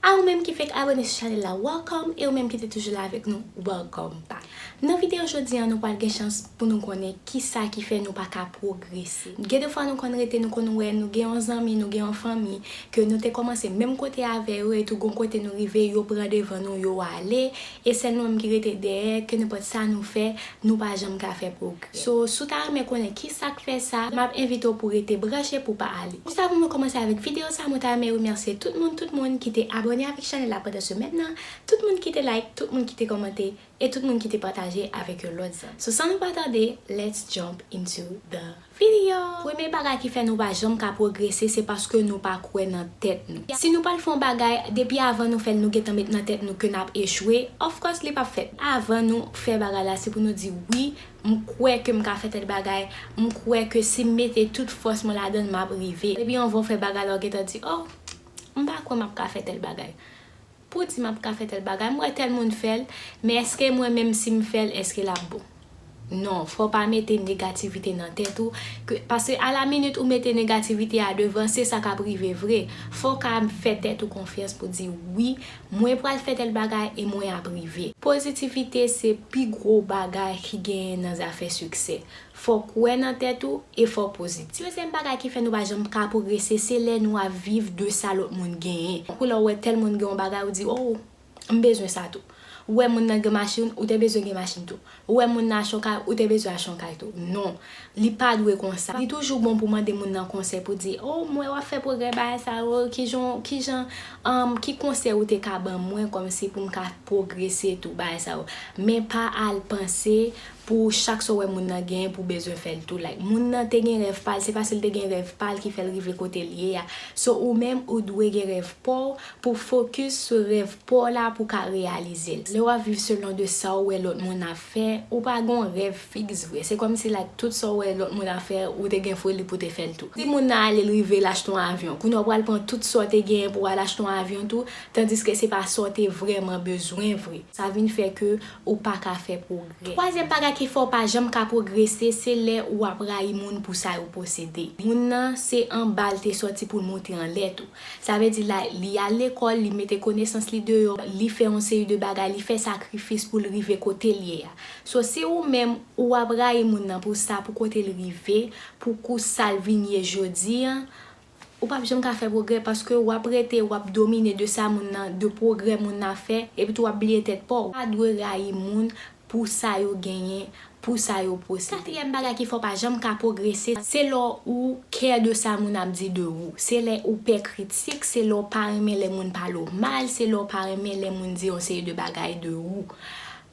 A ou menm ki fek abone sou chanel la welcome e ou menm ki te toujou la avek nou welcome back. Nan video jodi an nou pwal gen chans pou nou konnen kisa ki fè nou paka pwogrese. Gen de fwa nou konn rete nou konn wè nou gen yon zanmi nou gen yon fanmi ke nou te komanse menm kote avè yo etou gon kote nou rive yo pran devan nou yo ale E sèl nou menm ki rete dèyè, kenenpòt sa nou fè, nou pa janm ka fè pwogrè. So, si w ta renmen konnen kisa k fè sa, m ap envite w pou w rete branche pou w pa ale. Jis avan mwen kòmanse avèk videyo sa, mwen ta renmen remèsye tout moun, tout moun ki te abòne avèk chanèl la pandan semèn nan, tout moun ki te like, tout moun ki te kòmante, e tout moun ki te pataje avèk yon lòt zanmi. So san nou pa tande, let's jump into the. Video! Premye bagay ki fè nou pa janm ka pwogrese se paske nou pa kwè nan tèt nou. Si nou pral fè yon bagay, depi avan nou fè l nou gentan met nan tèt nou ke n ap echwe, of course li p ap fèt. Avan nou fè bagay la se pou nou di wi, m kwè ke m ka fè tèl bagay, m kwè ke si m mete tout fòs mwen ladan l m ap rive. Depi anvan w fè bagay la ou gentan di oh m pa kwè m ap ka fè tèl bagay. Pou di map ka fè tèl bagay m wè tèl moun fèl men eske mwen menm sim fèl eske lap bon non fòw pa mete negativite nan tèt ou ke paske a la minit ou mete negativite a devan se sa kap rive vre fòw ka fè tèt ou konfyans pou di wi mwen pral fè tèl bagay e mwen ap rive. Pozitivite se pi gwo bagay ki genyen nan zafè siksè Fò kwè nan tèt ou e fò pozitif. Dezyèm bagay ki fè nou pa janm ka pwogrese se lè nou ap viv de sa lòt moun genyen. Tankou lè w wè tèl moun gen yon bagay ou di oh m bezwen sa tou. Ou wè moun nan gen machin ou te bezwen gen machin tou. Ou wè moun nan achte yon kay ou te bezwen achte yon kay tou. Non. Li pa dwe konsa. Li toujou bon pou mande moun nan konsèy pou di oh m wè w ap fè pwogrè bagay sa yo kijan w kijan umm ki konsèy ou te ka ban mwen kòmsi pou m ka pwogrese tou bagay sa yo. Men pa al panse Pou chak sa w wè moun nan genyen pou w bezwen fè l tou like. Moun nan te gen rèv pa l, se paske l te gen rèv pa l ki fè l rive kote l ye a. So ou menm ou dwe gen rèv pa w pou w fokis sou rèv pa w la pou w ka reyalize l. Lè w ap viv selon de sa w wè lòt moun ap fè, ou pa gen yon rèv fiks vre. Se kòmsi like tout sa w wè lòt moun ap fè ou te gen foli pou w te fè l tou. Si moun nan ale l rive l achte yon avyon, kounye a w pral pran tout sa w te genyen pou w al achte yon avyon tou, tandiske se pa sa w te vrèman bezwen vre. Sa vin fè ke ou pa ka fè pwogrè. Twazyèm bagay ki fè w pa janm ka pwogrese se lè ou ap rayi moun pou sa yo posede. Moun nan se anba l te sòti pou l monte anlè tou. Sa vle di la li al lekòl, li mete konesans li deyò, li fè yon seri de bagay, li fè sakrifis pou l rive kote l ye a. So si ou menm ou ap rayi moun nan pou sa, pou kote l rive, pou kou sa l vin ye jodi an, Ou pap janm ka fè pwogrè paske wap rete wap domine de sa moun nan, de pwogrè moun nan ap fè epi tou wap bliye tèt paw. Ou pa dwe rayi moun pou sa yo genyen, pou sa yo posede. Katriyèm bagay ki fè w pa janm ka pwogrese, se lè ou kè de sa moun ap di de ou. Se lè ou pè kritik, se lè ou pa renmen lè moun pale w mal, se lè ou pa renmen lè moun di yon seri de bagay de ou.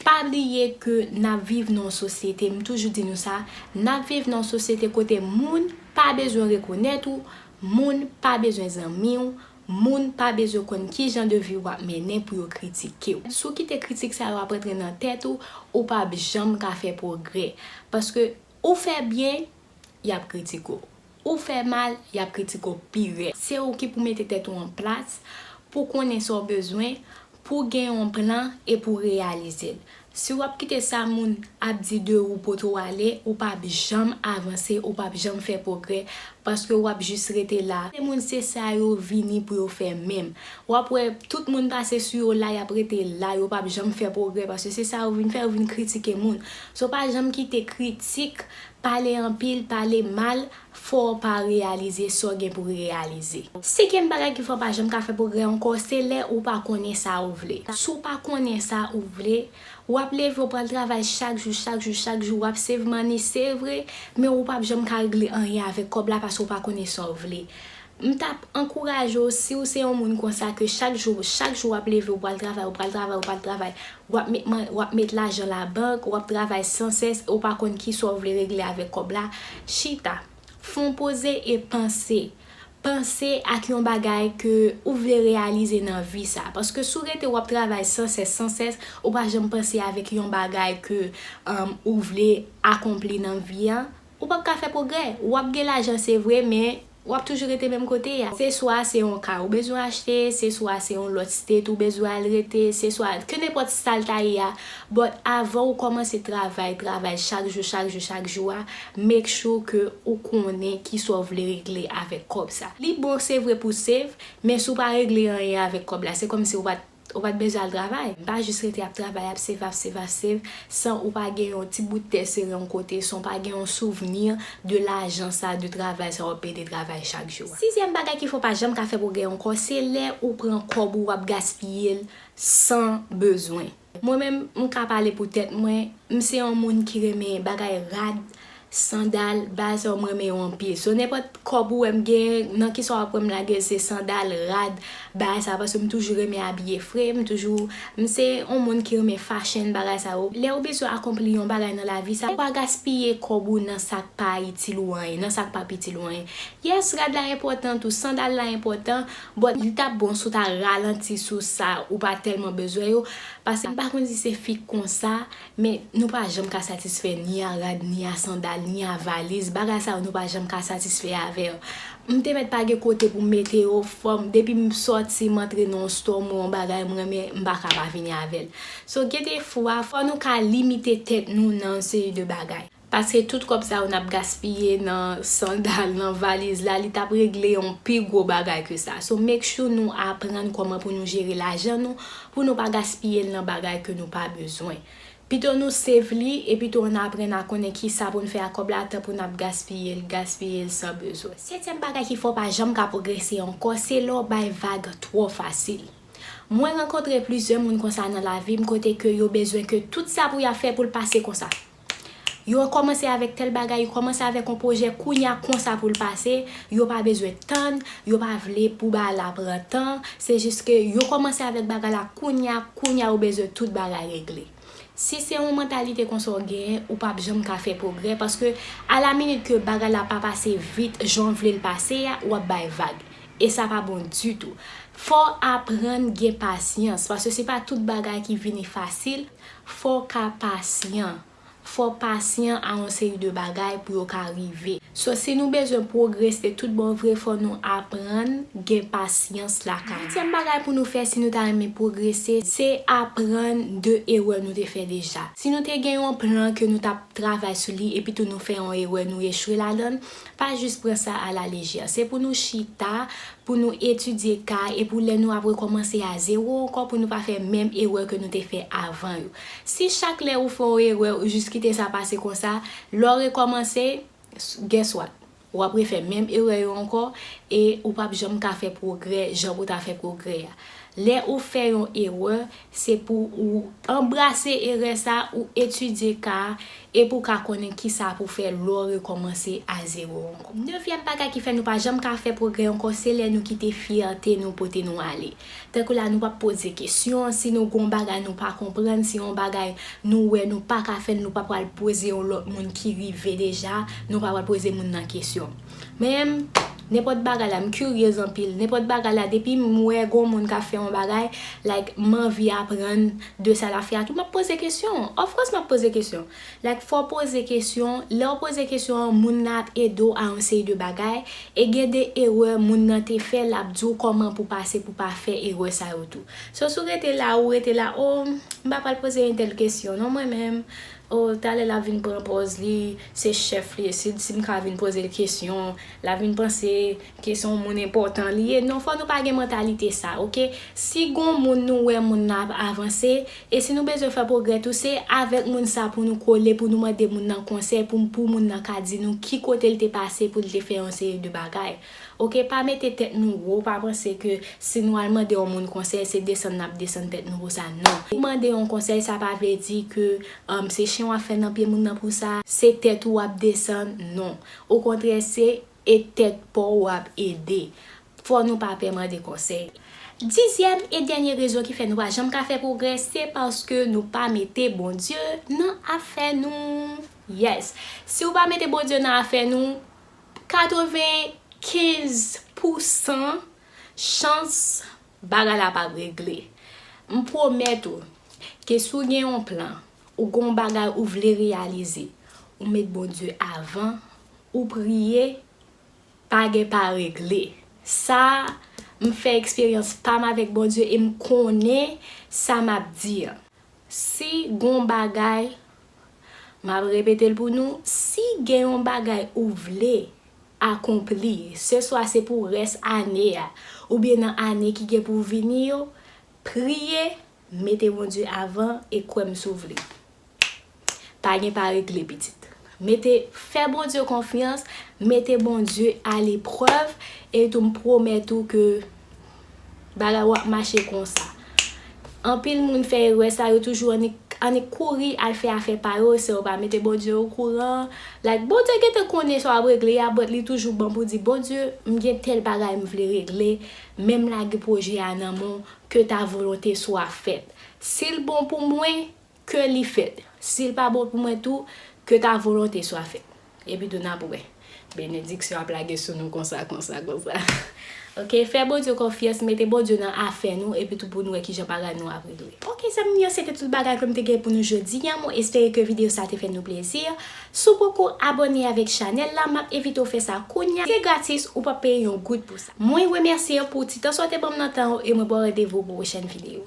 Pa bliye ke nap viv nan yon sosyete, m toujou di nou sa, nap viv nan yon sosyete kote moun. pa bezwen rekonèt ou, moun pa bezwen zanmi w, moun pa bezwen konn ki jan de vi w ap mennen pou yo kritike w. Si w kite kritik sa yo ap antre nan tèt ou, ou pa p janm ka fè pwogrè. Paske ou fè byen, y ap kritike w. Ou fè mal, y ap kritike w pi rèd. Se ou ki pou mete tèt ou an plas, pou w konnen sa w bezwen, Pou w gen yon plan e pou w reyalize l. Si w ap kite sa moun ap di de ou pote w ale, ou pa p janm avanse, ou pa p janm fè pwogrè, paske w ap jis rete la. Lè moun se sa yo vini pou yo fè menm. W ap wè tout moun pase sou yo la, y ap rete la, yo pa p janm fè pwogrè, paske se sa yo vin fè, yo vin kritike moun. So pa janm kite kritik, pale anpil, pale mal, Fò w pa reyalize sa w gen pou reyalize. Senkyèm bagay ki fè w pa janm ka fè pwogrè ankò se lè ou pa konnen sa ou vle. Si w pa konnen sa ou vle, w ap leve w pral travay chak jou, chak jou, chak jou, w ap save money se vre, men ou pap janm ka regle anyen avèk kòb la paske w pa konnen sa w vle. M tap ankouraje w si w se yon moun konsa ke chak jou chak jou wap leve ou pral travay ou pral travay ou pral travay wap met man wap met lajan labank wap travay san sès e w pa konn kisa w vle regle avèk kòb la chita fon poze e panse panse ak yon bagay ke ou vle reyalize nan vi sa paske si w rete wap travay san sès san sès ou pa janm panse avèk yon bagay ke ou vle akonpli nan vi an Ou pap ka fè pwogrè. Ou ap gen lajan se vre men ou ap toujou rete menm kote a. Se swa se yon kay ou bezwen achte, se swa se yon lòt state ou bezwen al rete, se swa kenenpòt sa l ta ye a but avan ou kòmanse travay travay chak jou chak jou chak jou a make sure ke ou konnen kisa w vle regle avèk kòb sa. Li bon se vre pou w save men si w pa regle anyen avèk kòb la se kòmsi ou pa t Ou pat bezwen al travay. Pa jis rete ap travay ap save ap save ap save san ou pa gen yon ti bout tè sere yon kote san ou pa gen yon souvni de lajan sa de travay sa wap pede travay chak jou a. Sizyèm bagay ki fè w pa janm ka fè pwogrè ankò se lè ou pran kòb ou wap gaspiye l san bezwen. Mwen menm m ka pale pou tèt mwen, m se yon moun ki renmen bagay rad, Sandal baz oh m renmen yo anpil so nenpòt kòb ou wèm gen nan kisa wap wèm lagel se sandal, rad, bagay sa paske m toujou renmen abiye fre m toujou m se yon moun ki renmen fashion bagay sa yo lèw bezwen akonpli yon bagay nan lavi sa ou pa gaspiye kòb ou nan sak pa itil ou anyen nan sak pap itil ou anyen yes rad la enpòtan tou sandal la enpòtan but li tap bon si w ta ralanti sou sa ou pa tèlman bezwen yo paske m pa konn si se fi konsa Men, nou pa janm ka satisfè ni a rad, ni a sandal, ni a valiz, bagay sa yo nou pa janm ka satisfè avè yo. M te mèt pa gen kote pou m mete yo, fò m, depi m sòti, m antre nan yon store, m wè yon bagay m renmen, m pa ka pa vini avè l. So gen de fwa, fò nou ka limite tèt nou nan yon seri de bagay. Paske tout kòb sa yo nap gaspiye nan sandal, nan valiz la, li tap regle yon pi gwo bagay ke sa. So make sure nou aprann kòman pou nou jere lajan nou, pou nou pa gaspiye l nan bagay ke nou pa bezwen. Pito nou save li, e pito an aprann a konnen kisa pou n fè ak kòb la, tan pou nap gaspiye l, gaspiye l san bezwen. Setyèm bagay ki fè w pa janm ka pwogrese ankò, se lè w bay vag twò fasil. Mwen rankontre plizyè moun konsa nan lavi m, kote ke yo bezwen ke tout sa pou yap fè pou l pase konsa. Yo kòmanse avèk tèl bagay, yo kòmanse avèk yon pwojè kounya konsa pou l pase, yo pa bezwen tann, yo pa vle pou bagay la pran tan, se jis ke yo kòmanse avèk bagay la kounya, kounya yo bezwen tout bagay regle. Si se yon mantalite konsa w genyen, ou pap janm ka fè pwogrè paske a la minit ke bagay la pa pase vit jan w vle l pase a, w ap bay vag e sa pa bon ditou. Fò w aprann gen pasyans paske se pa tout bagay ki vini fasil. Fò w ka pasyan. Fò w pasyan a yon seri de bagay pou yo ka rive. So si nou bezwen pwogrese tout bon vre fò nou aprann gen pasyans lakay nou. Setyèm bagay pou nou fè si nou ta renmen pwogrese se aprann de erè nou te fè deja. Si nou te gen yon plan ke nou t ap travay sou li epitou nou fè yon erè nou echwe ladan l, Pa jis pran sa a la lejè. Se pou nou chita, pou nou etidye ka a e pou lè nou ap rekòmanse a zewo ankò pou nou pa fè menm erè ke nou te fè avan yo. Si chak lè ou fè yon erè ou jis kite sa pase konsa, lè w rekòmanse, guess what? Ou ap refè menm erè yo ankò e ou p ap janm ka fè pwogrè jan pou w ta fè pwogrè a. Lè ou fè yon erè, Se pou ou anbrase erè sa a, ou etidye ka a, epi ou ka konnen kisa pou fè lè w rekòmanse a zewo ankò. Nevyèm bagay ki fè nou pa janm ka fè pwogrè ankò se lè nou kite fyète nou pote nou ale. Tankou la nou pa p poze kesyon, si nou gen yon bagay nou pa konprann, si yon bagay nou wè nou pa ka fè l nou pa pral poze yon lòt moun ki rive deja, nou pa pral poze moun nan kesyon. Menm nenpòt bagay la m curious anpil nenpòt bagay la depim wè gon moun kap fè yon bagay like m anvi aprann de sa lap fè a tou map poze kesyon of course map poze kesyon like fòw poze kesyon lèw poze kesyon an moun nan ap edew a yon seri de bagay e gen de erè moun nan te fè lap diw kòman pou pase pou pa fè erè sa yo tou so si w rete la ou rete la oh m pa pral poze yon tèl kesyon non mwen menm Oh talè lap vin pran pòz li se chèf li sid sim ka vin pozel kesyon lap vin panse ke son moun enpòtan li ye non fò nou pa gen mantalite sa ok si gon moun nou wè moun nan ap avanse e si nou bezwen fè pwogrè tou se avèk moun sa pou nou kole pou nou mande moun nan konsèy pou moun nan ka di nou ki kotel te pase poul te fè yon seri de bagay Ok pa mete tèt nou wo pa panse ke si nou al mande yon moun konsèy se desann nap desann tèt nou konsa nan ou mande yon konsèy sa pa vle di ke se chen wap fè nan pye moun nan pou sa se tèt ou wap desann non o kontrè se e tèt paw wap ede fò nou pa pè mande konsèy. Dizyèm e dènye rezon ki fè nou pa janm ka fè pwogrè se paske nou pa mete Bondye nan afè nou yes si ou pa mete Bondye nan afè nou 95 pou san chans bagay la pa regle. M pwomèt ou ke si w gen yon plan, ou gen yon bagay ou vle reyalize, ou met Bondye avan, ou priye, pa gen pa regle. Sa a, m fè eksperyans pa m avèk Bondye e m konnen sa m ap di an. Si gon bagay, map repetel pou nou, si gen yon bagay ou vle akonpli, se swa se pou rès ane a, oubyen nan ane ki gen pou vini yo, priye, mete Bondye avan e kwèm si w vle. Pa gen pa regle pitit. Mete fè Bondye konfyans, mete Bondye a leprèv e tou m pwomèt ou ke bagay ou ap mache konsa. Anpil moun fè erè sa yo toujou annik kouri al fè afè pa yo san yo pa mete Bondye o kouran. Like Bondye gentan konnen sa w ap regle a but li toujou bon pou di Bondye m gen tèl bagay m vle regle men m lage pwojè a nan men w ke ta volonte swa fèt. Si l bon pou mwen Ke li fèt. Si l pa bon pou mwen tou, ke ta volonte swa fèt. Epitou n ap wè. Benediksyon ap lage sou nou konsa, konsa, konsa. Ok, fè Bondye konfyans, mete Bondye nan afè nou, epitou pou n wè kijan bagay nou ap regle. Ok zanmi m yo, se te tout bagay ke m te gen pou nou jodi an. Mwen espere ke videyo sa te fè nou plezi. Si w poko abòne avèk chanèl la, m ap envite w fè sa kounya. Se gratis, ou p ap peye yon goud pou sa. Mwen remèsye w pou ti tan sa w te ban m nan tan w e mwen ba w randevou pou pwochèn videyo.